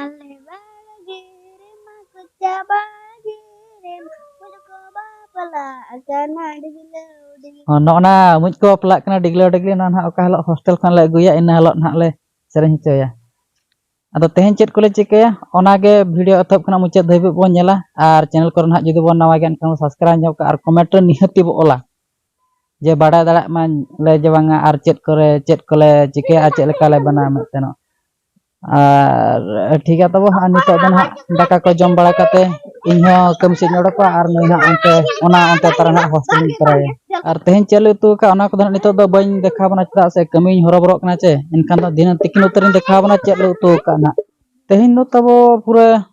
ᱟᱞᱮ ᱵᱟᱲᱜᱮ ᱨᱮᱢᱟ ᱠᱚᱪᱟ ᱵᱟᱲᱜᱮ ᱨᱮᱢᱟ ᱢᱩᱡᱽ ᱠᱚ ᱵᱟᱯᱞᱟᱜ ᱠᱟᱱᱟ ᱰᱤᱜᱽᱞᱟᱹᱣ ᱰᱤᱜᱽᱞᱟᱹᱣ ᱦᱚᱸ ᱱᱚᱜᱼᱚ ᱱᱟ ᱢᱩᱡᱽ ᱠᱚ ᱵᱟᱯᱞᱟᱜ ᱠᱟᱱᱟ ᱰᱤᱜᱽᱞᱟᱹᱣ ᱰᱤᱜᱽᱞᱤ ᱱᱚᱣᱟ ᱱᱟᱦᱟᱜ ᱚᱠᱟ ᱦᱤᱞᱳᱜ ᱦᱳᱥᱴᱮᱞ ᱠᱷᱚᱱ ᱞᱮ ᱟᱹᱜᱩᱭᱟ ᱤᱱᱟᱹ ᱦᱤᱞᱳᱜ ᱱᱟᱦᱟᱜ ᱞᱮ ᱥᱮᱨᱮᱧ ᱦᱚᱪᱚᱭᱟ ᱟᱫᱚ ᱛᱮᱦᱮᱧ ᱪᱮᱫ ᱠᱚᱞᱮ ᱪᱤᱠᱟᱹᱭᱟ ᱚᱱᱟᱜᱮ ᱵᱷᱤᱰᱤᱭᱳ ᱮᱛᱚᱦᱚᱵ ᱠᱷᱚᱱᱟᱜ ᱢᱩᱪᱟᱹᱫ ᱫᱷᱟᱹᱵᱤᱡ ᱵᱚᱱ ᱧᱮᱞᱟ ᱟᱨ ᱪᱮᱱᱮᱞ ᱠᱚᱨᱮ ᱱᱟᱦᱟᱜ ᱡᱩᱫᱤ ᱵᱚᱱ ᱱᱟᱣᱟ ᱜᱮᱭᱟ ᱮᱱᱠᱷᱟᱱ ᱵᱚᱱ ᱥᱟᱵᱥᱠᱨᱟᱭᱤᱵᱽ ᱧᱚᱜ ᱠᱟᱜᱼᱟ ᱟᱨ ᱠᱚᱢᱮᱱᱴ ᱨᱮ ᱱᱤᱦᱟᱹᱛᱤ ᱵᱚ ᱚᱞᱟ ᱡᱮ ᱵᱟᱰᱟᱭ ᱫᱟᱲᱮᱭᱟᱜ ᱢᱟᱞᱮ ᱡᱮ ᱵᱟᱝᱟ ᱟᱨ ᱪᱮᱫ ᱠᱚᱨᱮ ᱪᱮᱫ ᱠᱚᱞᱮ ᱪᱤᱠᱟᱹᱭᱟ ᱟᱨ ᱪᱮᱫ ᱞᱮᱠᱟᱞᱮ ᱵᱮᱱᱟᱣᱟ ᱢᱮᱱᱛᱮ ᱟᱨ ᱴᱷᱤᱠ ᱜᱮᱭᱟ ᱛᱚᱵᱮ ᱦᱟᱸᱜ ᱱᱤᱛᱚᱜ ᱫᱚ ᱦᱟᱸᱜ ᱫᱟᱠᱟ ᱠᱚ ᱡᱚᱢ ᱵᱟᱲᱟ ᱠᱟᱛᱮ ᱤᱧ ᱦᱚᱸ ᱠᱟᱹᱢᱤ ᱥᱮᱫ ᱤᱧ ᱚᱰᱚᱠᱚᱜᱼᱟ ᱟᱨ ᱱᱩᱭ ᱦᱟᱸᱜ ᱚᱱᱛᱮ ᱚᱱᱟ ᱚᱱᱛᱮ ᱛᱟᱨᱟ ᱦᱟᱸᱜ ᱦᱳᱥᱴᱮᱞ ᱤᱧ ᱠᱚᱨᱟᱣᱮᱭᱟ ᱟᱨ ᱛᱮᱦᱮᱧ ᱪᱮᱫ ᱞᱮ ᱩᱛᱩ ᱟᱠᱟᱫᱼᱟ ᱚᱱᱟ ᱠᱚᱫᱚ ᱦᱟᱸᱜ ᱱᱤᱛᱚᱜ ᱫᱚ ᱵᱟᱹᱧ ᱫᱮᱠᱷᱟᱣ ᱟᱵᱚᱱᱟ ᱪᱮᱫᱟᱜ ᱥᱮ ᱠᱟᱹᱢᱤᱧ ᱦᱚᱨᱚᱵᱚᱨᱚᱜ ᱠᱟᱱᱟ ᱪᱮ ᱮᱱᱠᱷᱟᱱ ᱫᱚ ᱫᱷᱤᱱᱟᱹᱱ ᱛᱤᱠᱤᱱ ᱩᱛᱟᱹᱨᱤᱧ ᱫᱮᱠᱷᱟᱣ ᱟᱵᱚᱱᱟ ᱪᱮᱫ ᱞᱮ ᱩᱛᱩ ᱟᱠᱟᱫᱼᱟ ᱦᱟᱸᱜ ᱛᱮᱦᱮᱧ ᱫᱚ ᱛᱟᱵᱚ ᱯᱩᱨᱟᱹ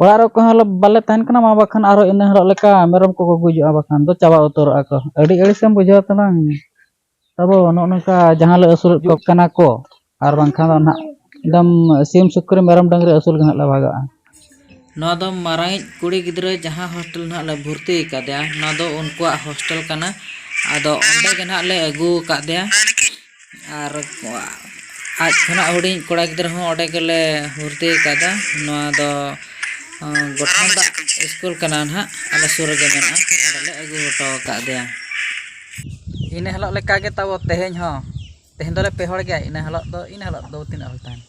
ᱚᱲᱟᱜ ᱨᱮ ᱚᱠᱚᱭ ᱦᱚᱸ ᱵᱟᱞᱮ ᱛᱟᱦᱮᱱ ᱠᱟᱱᱟ ᱢᱟ ᱵᱟᱠᱷᱟᱱ ᱟᱨᱚ ᱤᱱᱟᱹ ᱦᱤᱞᱳᱜ ᱞᱮᱠᱟ ᱢᱮᱨᱚᱢ ᱠᱚᱠᱚ ᱜᱩᱡᱩᱜᱼᱟ ᱵᱟᱠᱷᱟᱱ ᱫᱚ ᱪᱟᱵᱟ ᱩᱛᱟᱹᱨᱚᱜᱼᱟ ᱠᱚ ᱟᱹᱰᱤ ᱟᱹᱲᱤᱥ ᱮᱢ ᱵᱩᱡᱷᱟᱹᱣᱟ ᱛᱟᱞᱟᱝ ᱟᱵᱚ ᱱᱚᱜᱼᱚ ᱱᱚᱝᱠᱟ ᱡᱟᱦᱟᱸ ᱞᱮ ᱟᱹᱥᱩᱞᱮᱫ ᱠᱚ ᱠᱟᱱᱟ ᱠᱚ ᱟᱨ ᱵᱟᱝᱠᱷᱟᱱ ᱫᱚ ᱱᱟᱦᱟᱜ ᱮᱠᱫᱚᱢ ᱥᱤᱢ ᱥᱩᱠᱨᱤ ᱢᱮᱨᱚᱢ ᱰᱟᱹᱝᱨᱤ ᱟᱹᱥᱩᱞ ᱜᱮ ᱱᱟᱦᱟᱜ ᱞᱮ ᱵᱷᱟᱜᱟᱜᱼᱟ ᱱᱚᱣᱟ ᱫᱚ ᱢᱟᱨᱟᱝᱤᱡ ᱠᱩᱲᱤ ᱜᱤᱫᱽᱨᱟᱹ ᱡᱟᱦᱟᱸ ᱦᱳᱥᱴᱮᱞ ᱱᱟᱦᱟᱜ ᱞᱮ ᱵᱷᱚᱨᱛᱤ ᱟᱠᱟᱫᱮᱭᱟ ᱱᱚᱣᱟ ᱫᱚ ᱩᱱᱠᱩᱣᱟᱜ ᱦᱳᱥᱴᱮᱞ ᱠᱟᱱᱟ ᱟᱫᱚ ᱚᱸᱰᱮ ᱜᱮ ᱱᱟᱦᱟᱜ ᱞᱮ ᱟᱹᱜᱩ ᱟᱠᱟᱫᱮᱭᱟ ᱟᱨ ᱟᱡ ᱠᱷᱚᱱᱟᱜ ᱦᱩᱰᱤᱧ ᱠᱚᱲᱟ ᱜᱤᱫᱽᱨᱟᱹ ᱦᱚᱸ ᱚᱸᱰᱮ ᱜᱮᱞᱮ ᱵᱷᱚᱨᱛᱤ ᱟᱠᱟᱫᱟ ᱱᱚᱣᱟ ᱫᱚ ᱜᱚᱴᱷᱚᱱ ᱫᱟᱜ ᱥᱠᱩᱞ ᱠᱟᱱᱟ ᱱᱟᱦᱟᱜ ᱟᱞᱮ ᱥᱩᱨ ᱨᱮᱜᱮ ᱢᱮᱱᱟᱜᱼᱟ ᱚᱸᱰᱮᱞᱮ ᱟᱹᱜᱩ ᱦᱚᱴᱚ ᱟᱠᱟᱫᱮᱭᱟ ᱤᱱᱟᱹ ᱦᱤᱞᱳᱜ ᱞᱮᱠᱟᱜᱮ ᱛᱟᱵᱚ ᱛᱮᱦᱮᱧ ᱦᱚᱸ ᱛᱮᱦᱮᱧ ᱫᱚᱞᱮ ᱯᱮ ᱦᱚᱲ ᱜᱮᱭᱟ ᱤᱱᱟᱹ ᱦᱤᱞᱳᱜ ᱫᱚ ᱤᱱᱟᱹ ᱦᱤᱞᱳᱜ ᱫᱚ ᱛᱤᱱᱟᱹᱜ ᱦᱚᱲ ᱛᱟᱦᱮᱱᱟ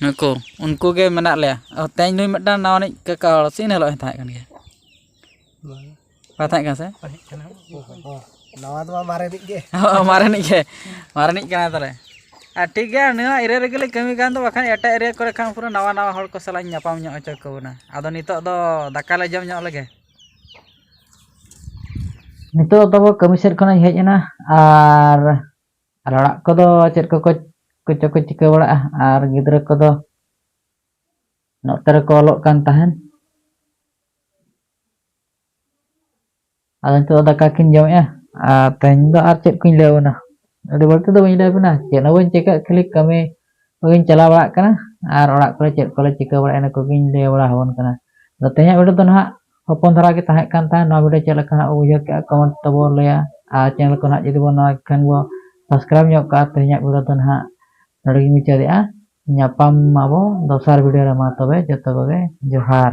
ᱱᱩᱠᱩ ᱩᱱᱠᱩ ᱜᱮ ᱢᱮᱱᱟᱜ ᱞᱮᱭᱟ ᱛᱮᱦᱮᱧ ᱱᱩᱭ ᱢᱤᱫᱴᱟᱝ ᱱᱟᱣᱟᱱᱤᱡ ᱠᱟᱠᱟ ᱦᱚᱲ ᱥᱮ ᱤᱱᱟᱹ ᱦᱤᱞᱳᱜ ᱦᱚᱸᱭ ᱛᱟᱦᱮᱸ ᱠᱟᱱ ᱜᱮᱭᱟ ᱵᱟᱭ ᱛᱟᱦᱮᱸ ᱠᱟᱱᱟ ᱥᱮ ᱱᱟᱣᱟ ᱫᱚ ᱵᱟᱝ ᱢᱟᱨᱮᱱᱤᱡ ᱜᱮ ᱦᱳᱭ ᱢᱟᱨᱮᱱᱤᱡ ᱜᱮ ᱢᱟᱨᱮᱱᱤᱡ ᱠᱟᱱᱟᱭ ᱛᱟᱞᱮ ᱟᱨ ᱴᱷᱤᱠ ᱜᱮᱭᱟ ᱱᱚᱣᱟ ᱮᱨᱤᱭᱟ ᱨᱮᱜᱮ ᱞᱮ ᱠᱟᱹᱢᱤ ᱠᱟᱱ ᱫᱚ ᱵᱟᱠᱷᱟᱱ ᱮᱴᱟᱜ ᱮᱨᱤᱭᱟ ᱠᱚᱨᱮ ᱠᱷᱟᱱ ᱯᱩᱨᱟᱹ ᱱᱟᱣᱟ ᱱᱟᱣᱟ ᱦᱚᱲ ᱠᱚ ᱥᱟᱞᱟᱜ ᱤᱧ ᱧᱟᱯᱟᱢ ᱧᱚᱜ ᱦᱚᱪᱚ ᱠᱮᱵᱚᱱᱟ ᱟᱫᱚ ᱱᱤᱛᱚᱜ ᱫᱚ ᱫᱟᱠᱟ ᱞᱮ ᱡᱚᱢ ᱧᱚᱜ ᱞᱮᱜᱮ ᱱᱤᱛᱚᱜ ᱫᱚ ᱠᱟᱹᱢᱤ ᱥᱮᱫ ᱠᱷᱚᱱᱤᱧ ᱦᱮᱡ ᱮᱱᱟ ᱟᱨ ᱟᱨ ᱚᱲᱟᱜ ᱠᱚᱫᱚ ᱪᱮᱫ ᱠᱚᱠᱚ ᱠᱚᱪᱚ ᱠᱚ ᱪᱤᱠᱟᱹ ᱵᱟᱲᱟᱜᱼᱟ ᱟᱨ ᱜᱤᱫᱽᱨᱟᱹ ᱠᱚᱫᱚ ᱱᱚᱛᱮ ᱨᱮᱠᱚ ᱚᱞᱚᱜ ᱠᱟᱱ ᱛᱟᱦᱮᱱ ᱟᱫᱚ ᱱᱤᱛᱚᱜ ᱫᱟᱠᱟ ᱠᱤᱱ ᱡᱚᱢᱮᱜᱼᱟ ᱟᱨ ᱛᱮᱦᱮᱧ ᱫᱚ ᱟᱨ ᱪᱮᱫ ᱠᱚᱧ ᱞᱟᱹᱭᱟᱵᱚᱱᱟ ᱟᱹᱰᱤ ᱵᱟᱹᱲᱛᱤ ᱫᱚ ᱵᱟᱹᱧ ᱞᱟᱹᱭᱟᱵᱚᱱᱟ ᱪᱮᱫ ᱦᱚᱸ ᱵᱟᱹᱧ ᱪᱤᱠᱟᱹᱜ ᱠᱷᱟᱹᱞᱤ ᱠᱟᱹᱢᱤ ᱠᱚᱜᱮᱧ ᱪᱟᱞᱟᱣ ᱵᱟᱲᱟᱜ ᱠᱟᱱᱟ ᱟᱨ ᱚᱲᱟᱜ ᱠᱚᱨᱮ ᱪᱮᱫ ᱠᱚᱞᱮ ᱪᱤᱠᱟᱹ ᱵᱟᱲᱟᱭᱟ ᱤᱱᱟᱹ ᱠᱚᱜᱮᱧ ᱞᱟᱹᱭ ᱵᱟᱲᱟ ᱟᱵᱚᱱ ᱠᱟᱱᱟ ᱟᱫᱚ ᱛᱮᱦᱮᱧᱟᱜ ᱵᱷᱤᱰᱤᱭᱳ ᱫᱚ ᱱᱟᱦᱟᱜ ᱦᱚᱯᱚᱱ ᱫᱷᱟᱨᱟ ᱜᱮ ᱛᱟᱦᱮᱸ ᱠᱟᱱ ᱛᱟᱦᱮᱸᱫ ᱱᱚᱣᱟ ᱵᱷᱤᱰᱤᱭᱳ ᱪᱮᱫ ᱞᱮᱠᱟ ᱱᱟᱦᱟᱜ ᱵᱩᱡᱷᱟᱹᱣ ᱠᱮᱜᱼᱟ ᱠᱚᱢᱮᱱᱴ ᱛᱟᱵᱚ ᱞᱟᱹᱭᱟ ᱟᱨ ᱪᱮᱱᱮᱞ ᱠᱚ ᱱᱟᱦᱟᱜ ᱡᱩᱫᱤ ᱵᱚᱱ ᱱᱚᱣᱟ ᱠᱷᱟᱱ ᱵᱚ ᱥᱟᱵᱥᱠᱨᱟᱭᱤᱵᱽ ᱧᱚᱜ ᱠᱟᱜᱼᱟ ᱛᱮᱦᱮᱧᱟᱜ ᱵᱷᱤᱰᱤᱭᱳ ᱫᱚ ᱱᱟᱦᱟᱜ ᱱᱚᱰᱮ ᱜᱮᱧ ᱢᱩᱪᱟᱹᱫᱮᱜᱼᱟ ᱧᱟᱯᱟᱢ ᱟᱵᱚ ᱫᱚᱥᱟᱨ ᱵᱷᱤᱰᱤᱭᱳ ᱨᱮ ᱢᱟ ᱛᱚᱵᱮ ᱡᱚᱛᱚ ᱠᱚᱜᱮ ᱡᱚᱦᱟᱨ